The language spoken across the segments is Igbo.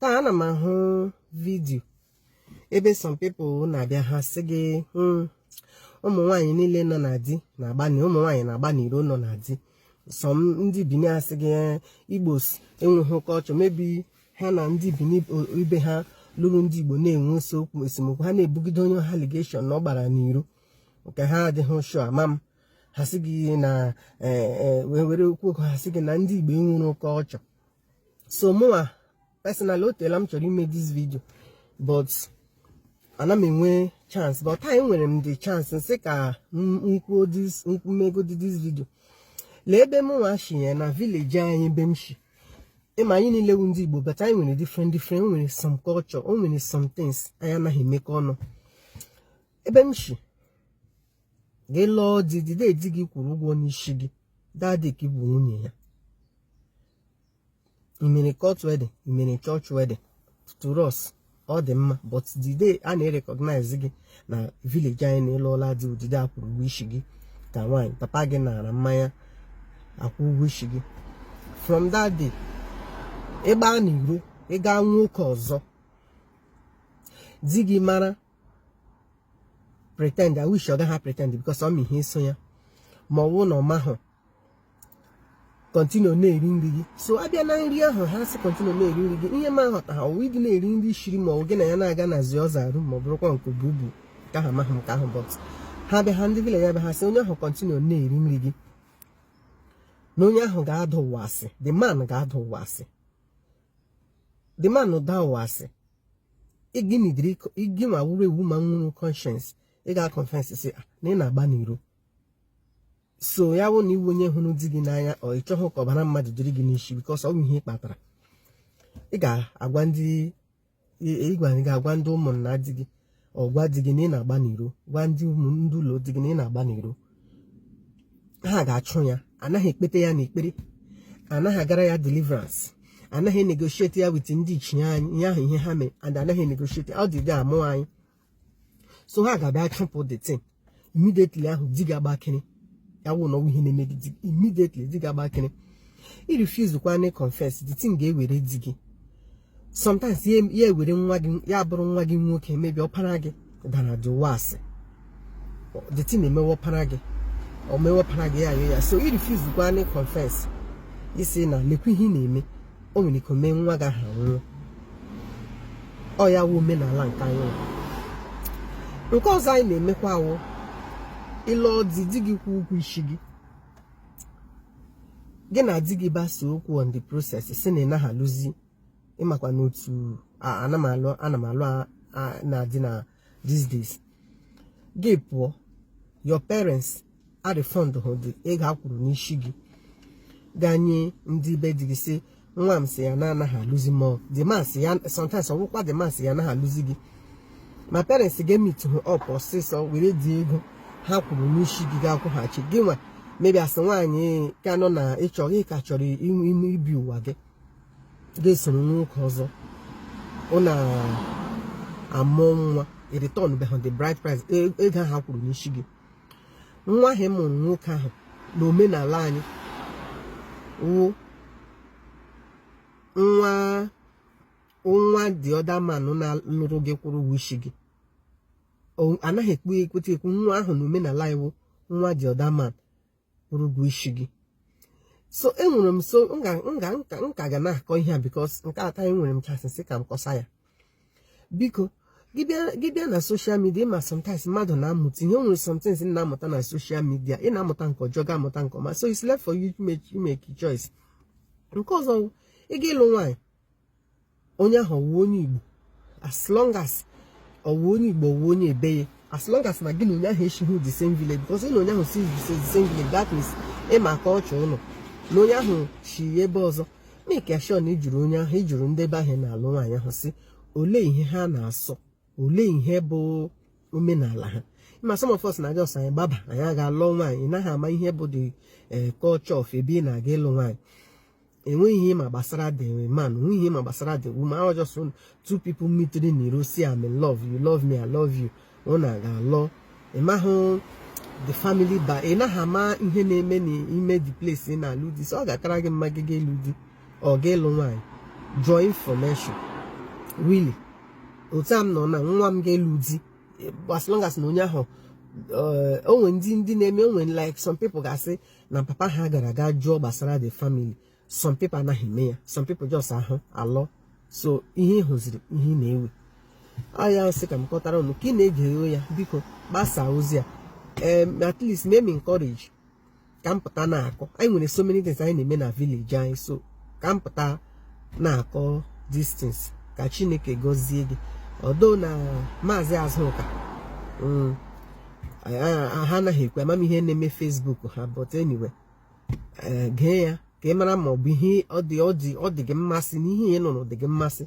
taa ana m ahụ video ebe some people na-abịa ha sị gị hmm, ụmụ nwaanyị niile nọ na di na-agbani ụmụ nwaanyị na-agba n'iro nọ na di some ndị bini asị gị eh, igbos enweghị culture maybe ha na ndị bini ibe ha lụrụ ndị igbo na-enwe nsogbu esemokwu ha na-ebugide onye allegation na ọ gbara n'iro nke ha adịghị sure ama m ha sị gị na eh, eh, were okwu okwu ha sị gị na ndị igbo enwere culture so mụnwa personally o teela m chọrọ ime this video but ana m enwe chance but taa nwere m the chance m sị ka m kwuo this m megodi this video lee ebe mụnwa shi ya na village anyị ebe m shi ị ma anyị niile wu ndị Igbo but anyị nwere different different o nwere some culture o nwere some things anyị anaghị emekọ ọnụ ebe m shi gị lụọ di the day di gị kwụrụ ụgwọ n'isi gị that day ka ị bụ nwunye ya i mere court wedding i mere church wedding to us ọ dị mma but the day a na-recognize gị na village anyị na ị lụọla di wụ the day a kwụrụ ụgwọ isi gị ka nwaanyị papa gị nara mmanya a kwụọ ụgwọ isi gị from that day ị gbaa n'iro ị gaa nwoke ọzọ di gị mara pretend which ọ gaghị pretend because ọ ma ihe so ya ma ọ wụ na ọ mahụ continue na-eri nri gị so abịa na nri ahụ ha sị continue na-eri nri gị ihe m aghọtaha ọ wụ di na-eri nri i shiri ma ọ gị na ya na-aga na the other room ma ọ bụrụkwa nke bubu ka ha mahụ nke ahụ but ha bịa ha ndị village ya bịa ha sị onye ahụ continue na-eri nri gị na onye ahụ ga-ada ụwa asị the man ga-ada ụwa asị the man da ụwa asị ịgịnidiri gị nwa wuru ewu ma nwere conscience ị ga confess sị ah, na ị na-agba n'iro so ya wụ na ị wụ onye hụrụ di gị n'anya or ị chọghị ka ọbara mmadụ dịrị gị n'isi because ọ bụ ihe ị kpatara ị ga-agwa ndị ị ga-aga agwa ndị ụmụnna di gị or gwa di gị na ị na-agba n'iro gwa ndị ụmụ ndị ụlọ di gị na ị na-agba n'iro ha ga-achụ ya anaghị ekpete ya n'ekpere anaghị agara ya deliverance anaghị negotiate ya with ndị ichie anyị ihe ahụ ihe ha mee and anaghị negotiate ọ dị adị a mụọ anyị so ha ga-abịa chụpụ the thing immediately ahụ di gị agbakịrị ya wụ na ọ wụ ihe na-eme gị immediately di gị agbakịrị i refuse kwa na confess the thing ga-ewere di gị sometimes ya ewere nwa gị ya bụrụ nwa gị nwoke maybe ọpara gị dara the ụwa asị the thing emewe ọpara gị emewe ọpara gị ya ya so i refuse kwa na confess ị sị na lekwa ihe ị na-eme o nwere ike mee nwa gị ahụ nwụọ ọ ya wụ omenala nke anyị nke ọzọ anyị na-emekwa wụ ị lụọ di di gị kwụọ ụgwọ isi gị gị na di gị gbasa okwu on the process sị na ị naghị alụzi ị makwa n'otu ana m alụ ana m alụ na-adị na these days gị pụọ your parents a refund hụ the ego a kwụrụ n'isi gị ga nye ndị be di gị sị nwa m sị ya na anaghị alụzi ma the man sị ya sometimes ọ wụkwa the man sị ya anaghị alụzi gị ma parents gị a meet hụ up ọsịsọ were the ego ha kwụrụ n'isi gị ga-akwụghachi gị nwa maybe a sị nwaanyị ka nọ na ịchọ ị ka chọrọ ibi ụwa gị ga-esoro nwoke ọzọ unu amụọ nwa ị return beghị the bride price e, ego ahụ a kwụrụ n'isi gị nwa ahụ ị mụrụ nwoke ahụ na omenala anyị wụ nwa the other man na-alụrụ gị kwụrụ ụgwọ isi gị a naghị ekwute ekwu nwa ahụ na omenala anyị wụ nwa the other man kwụrụ ụgwọ isi gị so enwere m so nka ga na-akọ ihe a because nke taa enwere m chance sị ka m kọsa ya biko gị bịa na social media ị ma sometimes mmadụ na-amụta ihe e nwere sometimes ị na-amụta na social media ị na-amụta nke ọjọọ gị amụta nke ọma so it's left for you to make choice nke ọzọ ị ga ịlụ nwaanyị onye ahụ ọ wụ onye Igbo as long as ọ wụ onye Igbo ọ wụ onye ebe ya as long as na gị na onye ahụ esighị the same village because ị na onye ahụ si the same village that means ị makọcha ọ wụrụ na onye ahụ si ebe ọzọ make sure na ị jụrụ onye ahụ ị jụrụ ndị ebe ahụ ị na-alụ nwaanyị ahụ sị olee ihe ha na-asọ olee ihe bụ omenala ha ma some of us na-aga ọsọ anyị gbaba anyị aga alụọ nwaanyị ị naghị ama ihe bụ the eh, culture of ebe ị na-aga ịlụ nwaanyị enweghị ihe ị ma gbasara the man enweghị ihe ị ma gbasara the woman ahụ just two people meeting in the road sị I'm in love you love me i love you unu aga alụọ ị mahụ the family ba ị naghị ama ihe na-eme n'ime the place ị na-alụ di so ọ ga-akara gị mma gị ga ịlụ di or ga ịlụ nwaanyị draw information really otu a m nọ na nwa m ga-alụ di as long as na onye ahụ eh, o nwe ndị ndị na-eme o nwe like some people ga-asị na papa ha gara ga jụọ gbasara the family some people anaghị eme ya some people just ahụ alụọ so ihe ị hụziri ihe ị na-ewe ọ ya m sị ka m kọtara ụnụ ka ị na-ege ya biko gbasaa ozi a at least mee m encourage ka m pụta na-akọ anyị nwere so many things anyị na-eme na village anyị so ka m pụta na-akọ these things ka chineke gọzie gị although na maazị azụka mm, ha anaghị ekwe ama m ihe na-eme facebook ha but anyway eh, gee ya ka ị mara ma ọ bụ ihe ọ dị gị mmasị na ihe ị nụrụ dị gị mmasị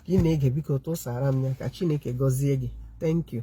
ka ị na-ege biko tụsara m ya ka chineke gọzie gị thank you